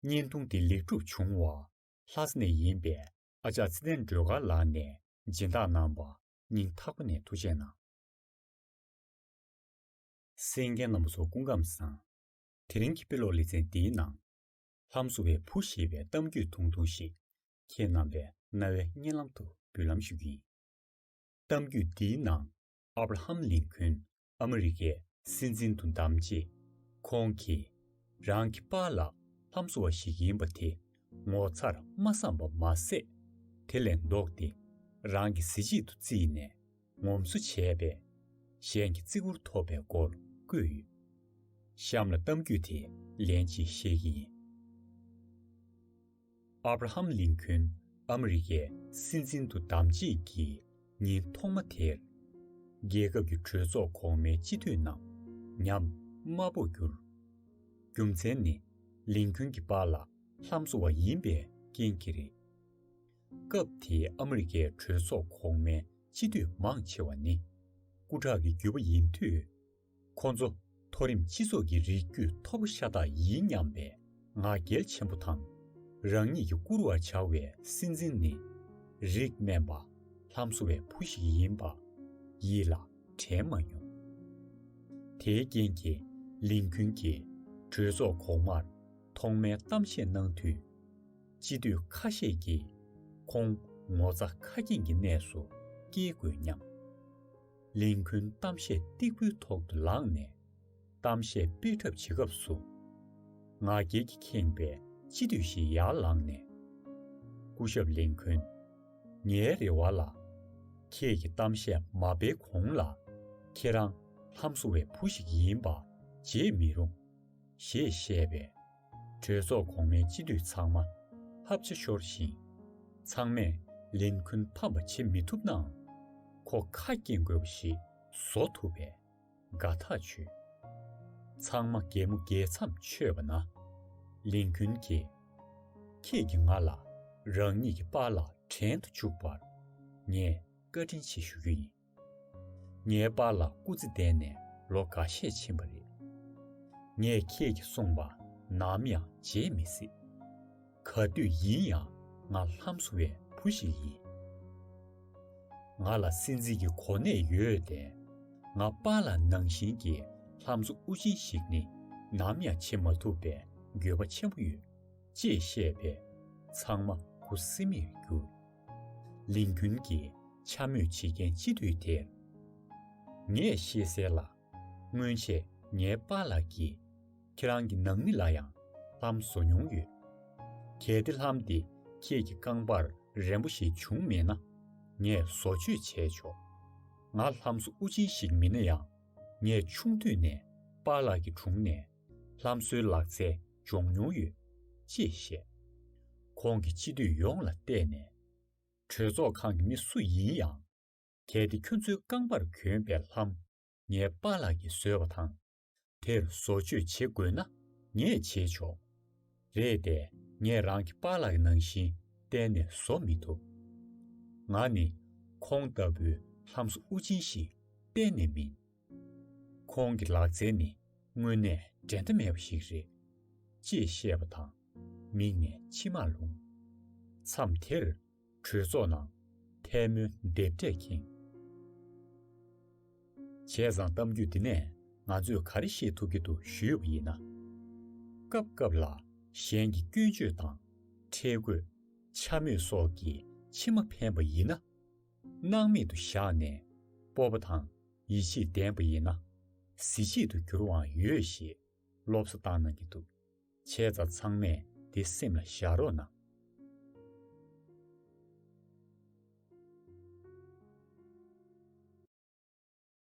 བརྙན་ཐུང་འདི་ལེགས་གྲུབ་བྱུང་བ། ལྷ་ས་ནས་ཡིན་པའི་ཨ་ཅག་ཚེ་བརྟན་སྒྲོལ་དཀར་ལགས་ནས་སྦྱིན་བདག་གནང་བ་སྙིང་ཐག་པ་ནས་ཐུགས་ཆེ་གནང། སེང་གེ་སྣམ་བུ་སོགས་སྐུ་ཁམས་བཟང། དེ་རིང་གི་དཔེ་ཀློག་ལེ་ཚན་འདིའི་ནང། ལྷ་མཚོ་བའི་བུ་ཞེས་པའི་གཏམ་རྒྱུད་ཐུང་ཐུང་ཞིག་ཁྱེད་རྣམ་པའི་རྣ་བའི་སྙན་ལམ་དུ་འབུལ་ལམ་ཞུ་རྒྱུ་ཡིན། གཏམ་རྒྱུད་འདིའི་ནང་ཨབ་ར་ཧམ་ལིན་ཁོན་ཨ་མི་རི་ཀའི་སྲིད་འཛིན་དུ་བདམས་རྗེས། ཁོང་གིས་རང་གི་པཱ་ལགས་ལྷ་མཚོ་བ་ཞིག་ཡིན་པ་དེ་ངོ་མཚར་མ་བསམ་པ་མ་ཟད། དེ་ལས་ལྡོག་སྟེ་རང་གི་གཟི་བརྗིད་དུ་བརྩིས་ནས་ངོམས་སོ་བྱས་པས། གཞན་གྱི་བརྩི་བཀུར་ཐོབ་པའི་སྐོར་བཀོད་ཡོད། གཤམ་ལ་གཏམ་རྒྱུད་དེ་ལན་གཅིག་བཤད་ཀྱི་ཡིན། Abraham Lincoln ཨ་མི་རི་ཀའི་སྲིད་འཛིན་དུ་བདམས་རྗེས་ཀྱི་ཉིན་ཐོག་མ་དེར། རྒྱལ་ཁབ་ཀྱི་གྲོས་ཚོགས་གོང་མའི་སྤྱི་འཐུས་རྣམས་ཉམས་དམའ་པོར་གྱུར། རྒྱུ་མཚན་ནི་ལིན་ཁོན་གྱི་པཱ་ལགས་ལྷམ་བཟོ་བ་ཡིན་པའི་རྐྱེན་གྱིས་རེད། སྐབས་དེའི་ཨ་མི་རི་ཀའི་གྲོས་ཚོགས་གོང་མའི་སྤྱི་འཐུས་མང་ཆེ་བ་ནི་སྐུ་དྲག་གི་རྒྱུད་པ་ཡིན་དུས། ཁོང་ཚོ་མཐོ་རིམ་སྤྱི་ཚོགས་ཀྱི་རིགས་རྒྱུད་མཐོ་པོ་ཤ་སྟག་ཡིན་སྙམ་པའི་ང་རྒྱལ་ཆེན་པོ་དང། རང་ཉིད་ཀྱི་བཀུར་བར་བྱ་བའི་སྲིད་འཛིན་ནི་རིགས་དམན་པ། ལྷམ་བཟོ་བའི་བུ་ཞིག་ཡིན་པ། ཡིད་ལ་དྲན་མ་མྱོང། དེའི་རྐྱེན་གྱིས་ལིན་ཁུན་གྱིས་གྲོས་ཚོགས་གོང་མར་ཐོག་མའི་གཏམ་བཤད་གནང་དུས། སྤྱི་འཐུས་ཁ་ཤས་ཀྱིས། ཁོང་ངོ་ཚ་ཁ་སྐྱེངས་ཀྱི་གནས་སུ་སྐྱེལ་དགོས་སྙམ། གླིང་ཁུལ་གཏམ་བཤད་སྟེགས་བུའི་ཐོག་ཏུ་ལངས་ནས་གཏམ་བཤད་སྤེལ་གྲབས་བྱེད་སྐབས་སུ། ང་རྒྱལ་གྱིས་ཁེངས་པའི་སྤྱི་འཐུས་ཤིག་ཡར་ལངས་ནས། སྐུ་ཞབས་གླིང་ཁུལ། ངའི་རེ་བ་ལ། ཁྱེད་ཀྱིས་གཏམ་བཤད་མ་སྤེལ་གོང་ལ། ཁྱེད་རང་ལྷམ་བཟོ་བའི་བུ་ཞིག་ཡིན་པ་བརྗེད་མི་རུང། ཞེས་བཤད་པས། གྲོས་ཚོགས་གོང་མའི་སྤྱི་འཐུས་ཚང་མ་ཕབ་བྱེད་ཤོར་ཞིང། ཚང་མས་ལན་ཁུན་ཕམ་པ་བྱེད་མི་ཐུབ་ནའང། ཁོ་ཁ་སྐྱེངས་དགོས་པ་ཞིག་བཟོ་ཐུབ་པས་དགའ་ཐག་ཆོད། ཚང་མ་གད་མོ་རྒལ་མཚམས་ཆོད་པ་ན། ལིན་ཁུན་གྱིས། ཁྱེད་ཀྱིས་ང་ལ་རང་ཉིད་ཀྱི་པཱ་ལགས་དྲན་དུ་བཅུག་པར་ངས་བཀའ་དྲིན་ཆེ་ཞུ་རྒྱུ་ཡིན། ངའི་པ་ལ་སྐུ་ཚེ་ལྡན་ནས་ལོ་འགའ་ཤས་ཕྱིན་པ་རེད། ངས་ཁྱེད་ཀྱིས་གསུངས་པ་ནམ་ཡང་བརྗེད་མི་སྲིད། ག་དུས་ཡིན་ཡང་ང་ལྷམ་བཟོ་བའི་བུ་ཞིག་ཡིན། ང་ལ་སེམས་གཟིགས་ཀྱི་གོ་གནས་ཡོད་དེ། ང་པ་ལ་ནང་བཞིན་གྱི་ལྷམ་བཟོ་དབུ་ཅན་ཞིག་ནི་ནམ་ཡང་བྱེད་མ་ཐུབ་པའི་འགྱོད་པ་ཆེན་པོ་ཡོད། ཅེས་བཤད་པས་ཚང་མ་ཁུ་སིམ་མེར་གྱུར། ལིན་ཁུན་གྱིས་འཕྱ་སྨོད་བྱེད་མཁན་སྤྱི་འཐུས་དེར། ངས་ཤེས་གསལ་ལ། སྔོན་ཆད་ངའི་པ་ལགས་ཀྱིས་ཁྱེད་རང་གི་ནང་མི་ལ་ཡང་ལྷམ་བཟོ་མྱོང་ཡོད། གལ་ཏེ་ལྷམ་དེ་ཁྱེད་ཀྱི་རྐང་པར་རན་པོ་ཞིག་བྱུང་མེད་ན། ངས་བཟོ་བཅོས་བྱས་ཆོག་ང་ལྷམ་བཟོ་དབུ་ཅན་ཞིག་མིན་ན་ཡང། ངས་ཆུང་དུས་ནས་པ་ལགས་ཀྱི་དྲུང་ནས། ལྷམ་བཟོའི་ལག་རྩལ་སྦྱོང་མྱོང་ཡོད། ཅེས་བཤད། ཁོང་གིས་སྤྱི་འཐུས་ཡོངས་ལ་བལྟས་ནས། གྲོས་ཚོགས་ཁང་གི་མི་སུ་ཡིན་ཡང། གལ་ཏེ་ཁྱོད་ཚོའི་རྐང་པར་གྱོན་པའི་ལྷམ། ངའི་པཱ་ལགས་ཀྱིས་བཟོས་པ་དང། དེར་བཟོ་བཅོས་བྱེད་དགོས་ན་ངས་བྱེད་ཆོག། རེད་དེ། ངས་རང་གི་པཱ་ལགས་ཀྱི་ནང་བཞིན་གཏན་ནས་བཟོ་མི་ཐུབ། ང་ནི། ཁོང་ལྟ་བུའི་ལྷམ་བཟོ་དབུ་ཅན་ཞིག་གཏན་ནས་མིན། ཁོང་གི་ལག་རྩལ་ནི་དངོས་གནས་འགྲན་ཟླ་མེད་པ་ཞིག་རེད། ཅེས་བཤད་པ་དང་མིག་ནས་མཆི་མ་ལྷུང། མཚམས་དེར་གྲོས་ཚོགས་ནང་ཐལ་མོ་རྡེབ་སྒྲས་ཁེངས། བྱས་ཙང་གཏམ་རྒྱུད་འདི་ནས་ང་ཚོས་ག་རེ་ཤེས་ཐུབ་ཀྱི་འདུག་ཞུས་པ་ཡིན་ན། སྐབས་སྐབས་ལ་གཞན་གྱི་སྐྱོན་བརྗོད་དང་ཁྲེལ་དགོད། འཕྱ་སྨོད་སོགས་ཀྱིས་མཆི་མ་འཕེན་པ་ཡིན་ན། སྣང་མེད་དུ་བཞག་ནས་སྤོབས་པ་དང་ཡིད་ཆེས་ལྡན་པ་ཡིན་ན། གཟི་བརྗིད་དུ་འགྱུར་བའང་ཡོད་ཞེས་སློབ་གསོ་བཏང་གནང་གི་འདུག་བྱས་ཙང་ཚང་མས་འདི་སེམས་ལ་བཞག་རོགས་གནང།